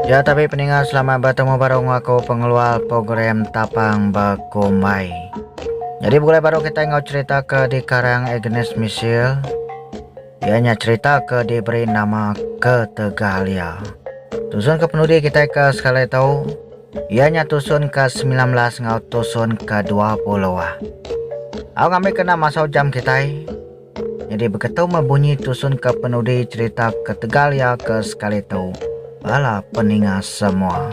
Ya tapi peninga selamat bertemu baru ngau aku pengeluar program tapang berkumbai. Jadi begulai baru kita ngau cerita ke di karang Agnes Misil. Ia nya cerita ke diberi nama Ketegalia. Tusun ke penudi kita ke sekali tahu. Ia nya tusun ke 19 ngau tusun ke 20. Aku ngambil kena masa jam kita. Nyadi beketu meh bunyi tusun ke penudi cherita ketegal iya ke sekali tu bala peninga semua.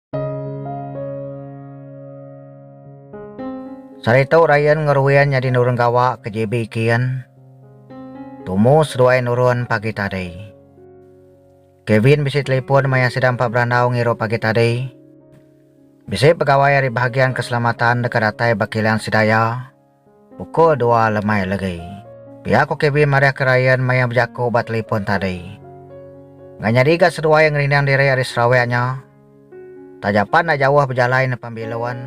Saritu Ryan ngeruin nyadi nurun gawa ke JB Kin. Tumu seduai nurun pagi tadi. Kevin bisi telipun maya sida empat berandau ngirup pagi tadi. Bisi pegawai ari Bahagian Keselamatan deka datai ba kilang sida iya. Uko dua lemai legi. Pia ko Kevin marihka Ryan maya bejako ba telipon tadi. Enda nyadi ga seduai ngerindang diri ari Sarawak nya. Taja pan enda jauh bejalai nepan bilun.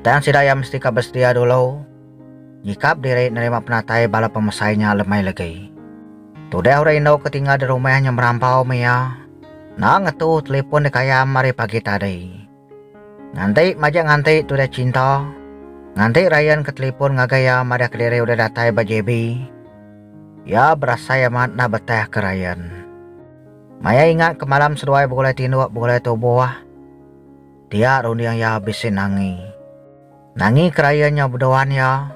Tang sida iya mesti ka besedia dulu nyikap diri nerima penatai bala pemesai nya lemai legi. Tudah orang indu ke tinggal di rumah nya merampau meh iya enda ngetu telipon dikayam ari pagi tadi. Nganti majak nganti tu udah cinta. Nganti Ryan ke telipon ngagai iya madah kediri udah datai ba JB. Iya berasai amat enda betah ke Ryan. Maya ingat ke malam seduai begulai tinduk begulai tubuh. Tiak runding iya bisi nangi. Nangi ke Ryan nyau beduan iya.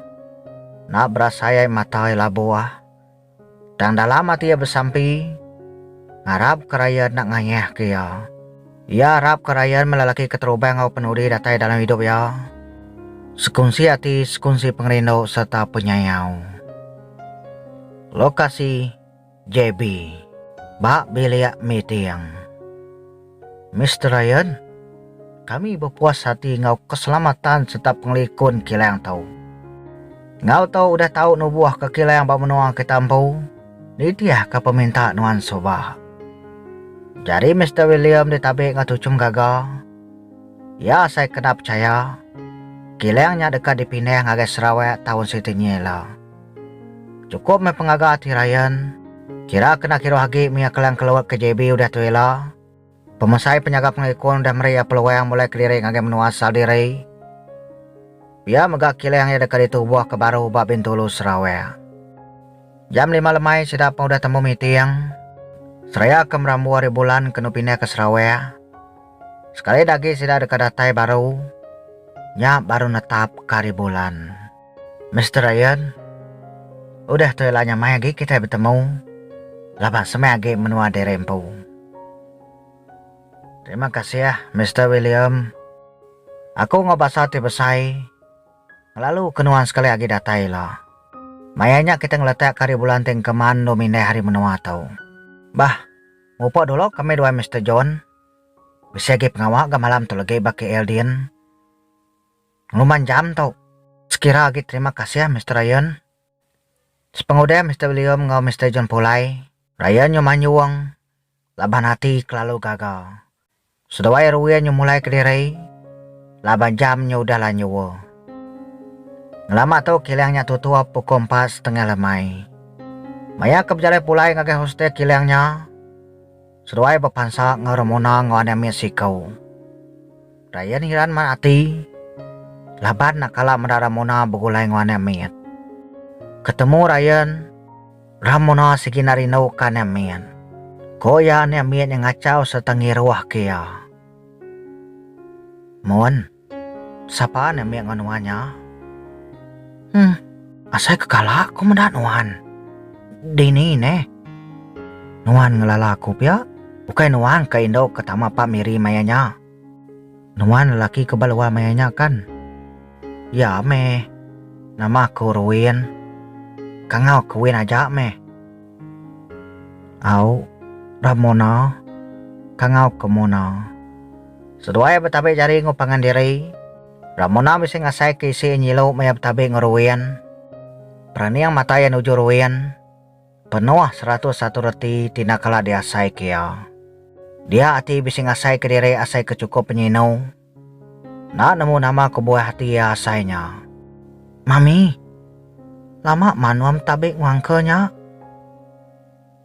Enda berasai ai mata iya labuh. Tang dalam ati iya besampi, ngarapka Ryan enda ngayahka iya. Iya arapka Ryan melelaki keterubah enggau penudi datai dalam idup iya, sekunsi ati, sekunsi pengerindu sereta penyayau. Lokasi, JB. Ba bilik meeting. Mister Ryan, kami bepuas ati enggau keselamatan sereta pengelikun kilang tu. Enggau tu udah tau nubuhka kilang ba menua kita empu, nitihka peminta nuan suba. Jari Mister William ditabi enggau tuchum gaga. Iya sai kena pechaya, kilang nya deka dipindah ngagai Sarawak taun siti nyi ila. Chukup meh pengaga ati Ryan. Kira kena kiruh agi mih iya kelang keluar ke JB udah tu ila. Pemesai penyaga pengikun udah meri iya peluang mulai kediri ngagai menua asal diri. Pia mega kilang iya deka ditubuh ke baru ba Bintulu, Sarawak. Jam lima lemai sida pun udah tembu meeting seraya ke merambu hari bulan kenu pindah ke Sarawak. Sekali agi sida deka datai baru nya baru netap ke hari bulan. Mister Ian, udah tu ila nya mai agi kitai betemu laban semeh agi menua diri empu. Terima kasih, Mister William. Aku enggau basa ti besai ngelalu ke nuan sekali agi datai ila. Maya nya kitai ngeletak ke hari bulan ti engkeman endu mindai hari menua tu. Bah, ngupa dulu kami duai Mister John. Bisi agi pengawa ga malam tu legi ba KL Din. Penguman jam tu. Sekira agi terima kasih Mister Ryan. Sepengudih Mister William enggau Mister John Pulai. Ryan nyu manyung laban ati kelalu gaga. Seduai Erwin nyu mulai kediri laban jam nyu udah lanyua. Ngelama tu kilang nya tutup pukul empat setengah lemai. Maya ke bejalai pulai ngagai hostel kilang nya, Seduai bepansa enggau Ramona enggau anak mit siko. Ryan hiran mat ati laban enda kala meda Ramona begulai enggau anak mit. Ketemu Ryan, Ramona sigi enda rinduka anak mit. Ko iya anak mit nya ngachau sereta ngiruhka iya. Mun. Sapa nya meh enggau nuan nya? Huh. Asai ke kala aku meda nuan. Dini neh. Nuan ngelala aku pia. Ukai nuan ka indu ke tama Pak Miri maya nya. Nuan lelaki ke ba luar maya nya kan? Ya meh. Nama aku Ruin. Kangau ke Win aja meh. Au. Ramona. Kangau ke Mona. Seduai betabi jari enggau pangan diri, Ramona bisi ngasaika isi iya nyilu maya betabi enggau Ruin. Peraning mata iya nuju Ruin, penuh seratus satu reti ti enda kala diasaika iya. Dia ati bisi ngasaika diri asai ke chukup penyinu. Enda nemu nama kebuah ati iya asai nya. Mami, lama manum betabi enggau uncle nya.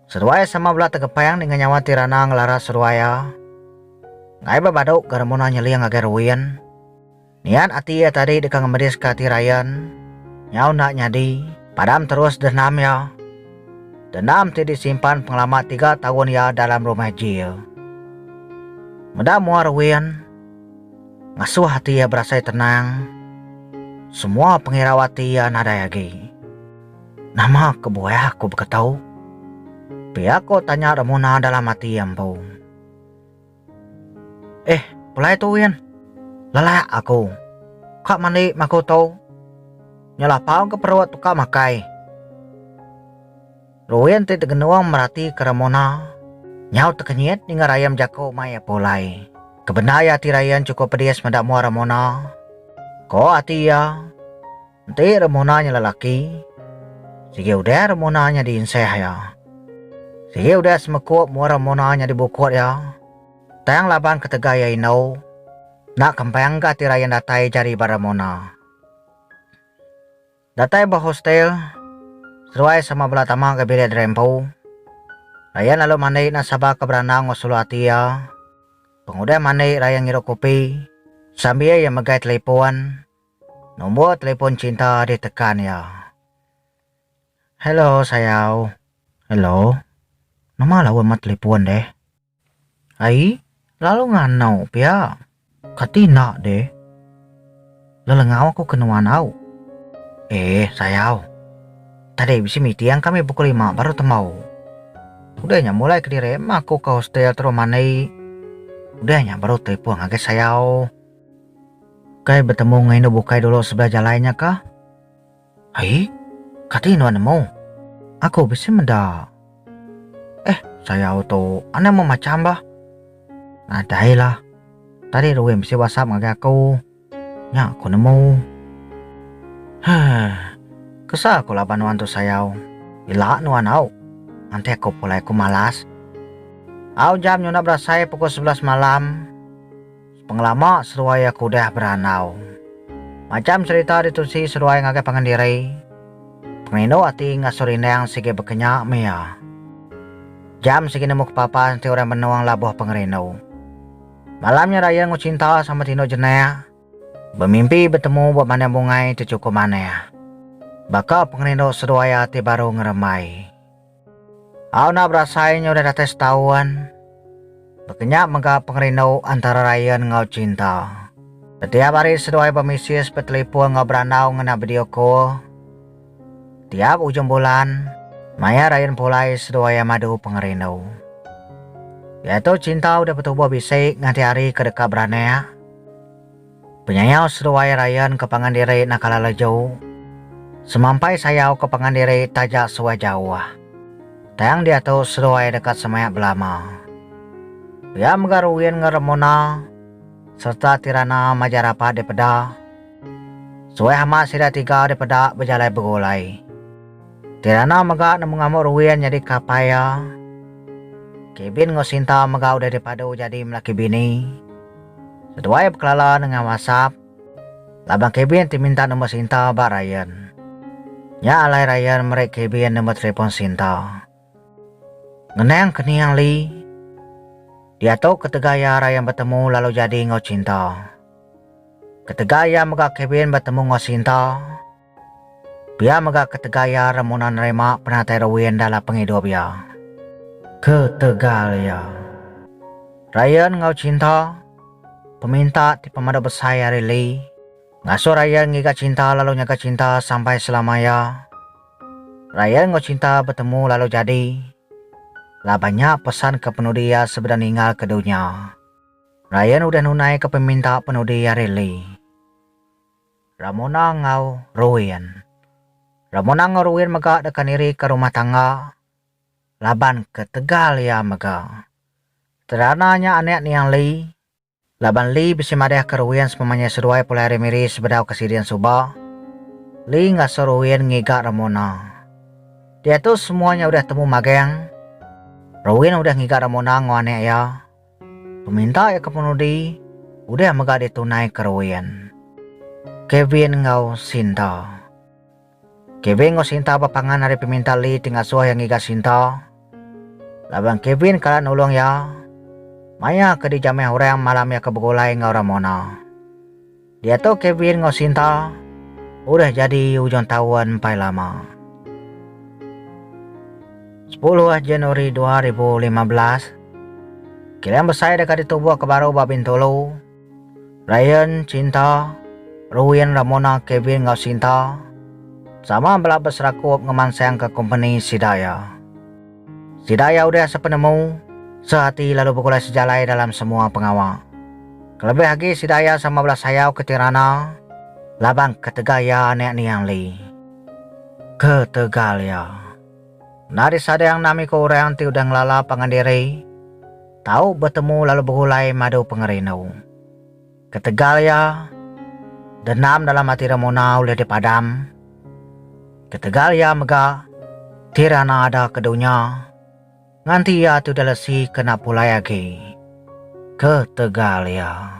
Seruai sama bela tekepang dengan nyawa ti rana ngelaras seruai iya. Ngai ba badu ga Ramona nyeling ngagai Ruin. Niat ati iya tadi deka ngemediska ati Ryan. Nyau enda nyadi, padam terus dendam iya. Dendam ti disimpan pengelama tiga taun iya dalam rumah jil. Meda mua Ruin, ngasuh ati iya berasai tenang. Semua pengirau ati iya nadai agi. Nama kebuah aku baka tu? Pia ko tanya Ramona dalam ati empu. Eh, pulai tu Win. Lelak aku. Ka mandi maku tu. Nya lapau ke perut tu ka makai. Ruin ti tegenung merati ke Ramona nyau tekenyit ninga Ryan bejako mai iya pulai. Kebendar iya ati Ryan cukup pedis meda mua Ramona. Ko ati iya, Enti remuna nya lelaki, sigi udah remuna nya diinsah iya. Sigi udah semekup mua remuna nya dibukut iya, tang laban ketegal iya indu, enda kempang ga ati Ryan datai jari ba remuna. Datai ba hostel, seduai sama bela tama ga bilik diri empu. Ryan lalu mandi enda sabar ke berandau enggau sulu ati iya. Pengudah mandi Ryan ngirup kopi sambil iya megai telefon. Nombor telefon cinta ditekan iya. Hello sayau. Hello. Nama lawa mah telefon deh. Ai, lalu nganau pia. Kati enda deh. Lelengau aku ke nuan au. Eh sayau. Tadi bisi meeting kami pukul lima baru tembau. Udah nya mulai kediri mah aku ke hostel terus mandi. Udah nya baru telefon ngagai sayau. Ukai betemu enggau indu bukai dulu sebelah jalai nya kah? Ai, kati nuan nemu? Aku bisi meda. Eh, sayau tu anang meh macham bah. Nadailah. Tadi Ruin bisi whatsapp ngagai aku. Nya aku nemu. Huh. Kesah aku laban nuan tu sayau. Ila nuan au. Mantik aku pulai aku malas. Au jam nyunak berasai pukul sebelas malam. Pengelama seruai iya ke udah berandau. Macham serita ditusi seruai ngagai pangan diri, pengerindu ati ngasuh rindang sigi bekenya meh iya. Jam sigi nemu ke papan enti orang benung labuh pengerindu. Malam nya raya enggau cinta sama tinduk jenak, bemimpi betemu ba bandar bungai ti chukup manah. Baka pengerindu seruai ati baru ngerembai. Au enda berasai nyau udah datai setaun. Baka nya mega pengerindu antara Ryan enggau Cinta. Tetiap hari seduai bemesis, betelefon enggau berandau ngena video call. Tiap ujung bulan, maya Ryan pulai seduai iya madu pengerindu. Diatu Cinta udah betubuh bisi nganti hari ke deka beranak. Penyayau seduai Ryan ke pangan diri naka lalaju. Semampai sayau ke pangan diri taja suah jauh. Tang diatu seduai deka semaya belama. Pia mega Ruin enggau Ramona sereta Tirana maja rapat dipeda. Suah amat sida tiga dipeda bejalai begulai. Tirana mega nemu ngamuk Ruin nyadi kapai iya. Kevin enggau Sinta mega udah dipadu jadi melaki bini. Seduai bekelala nengah WhatsApp laban Kevin ti minta nombor sinta ba Ryan. Nya alai Ryan meri Kevin nombor telefon sinta. Ngenang kening Lee, diatu ketegal iya Ryan betemu lalu jadi enggau Cinta. Ketegal iya mega Kevin betemu enggau Sinta, Pia mega ketegal iya remuna nerima penatai Rowin dalam pengidup iya. Ketegal iya. Ryan enggau Cinta, Peminta ti pemadu besai ari Lee, ngasuh Ryan ngiga Cinta lalu nyaga Cinta sampai selama iya. Ryan enggau Cinta betemu lalu jadi. Laban nya pesan ke penudi iya sebedau ninggal ke dunya. Ryan udah nunai ke peminta penudi ari Lee. Ramona enggau Ruin. Ramona enggau Ruin mega deka nirika rumah tangga laban ketegal iya mega Terana nya anak niang Lee. Laban Lee bisi madahka Ruin sepemanjai seduai pulai hari Miri sebedau ke sidin suba, Lee ngasuh Ruin ngiga Ramona. Diatu semua nya udah temu magang, Ruin udah ngiga Ramona enggau anak iya. Peminta iya ke penudi udah mega ditunai Kerwin, Kevin enggau Sinta. Kevin enggau Sinta bepangan ari peminta Lee ti ngasuh iya ngiga Sinta laban Kevin kala nulung iya maya ke dijamah orang malam iya ke begulai enggau Ramona. Diatu Kevin enggau Sinta udah jadi ujung taun empai lama. Sepuluh Januari dua ribu lima belas, kilang besai deka ditubuh ke baru ba Bintulu. Ryan, Cinta, Ruin, Ramona, Kevin enggau Sinta sama bela beserakup ngemansangka kompeni sida iya. Sida iya udah sepenemu, seati lalu begulai sejalai dalam semua pengawa. Kelebih agi sida iya sama bela sayau ke Tirana laban ketegal iya anak niang Li. Ketegal iya. Enda disadang enam iku orang ti udah ngelala pangan diri tau betemu lalu begulai madu pengerindu. Ketegal iya, dendam dalam ati Ramona ulih dipadam. Ketegal iya mega Tirana ada ke dunya, nganti iya tu dilesi ke enda pulai agi. Ketegal iya.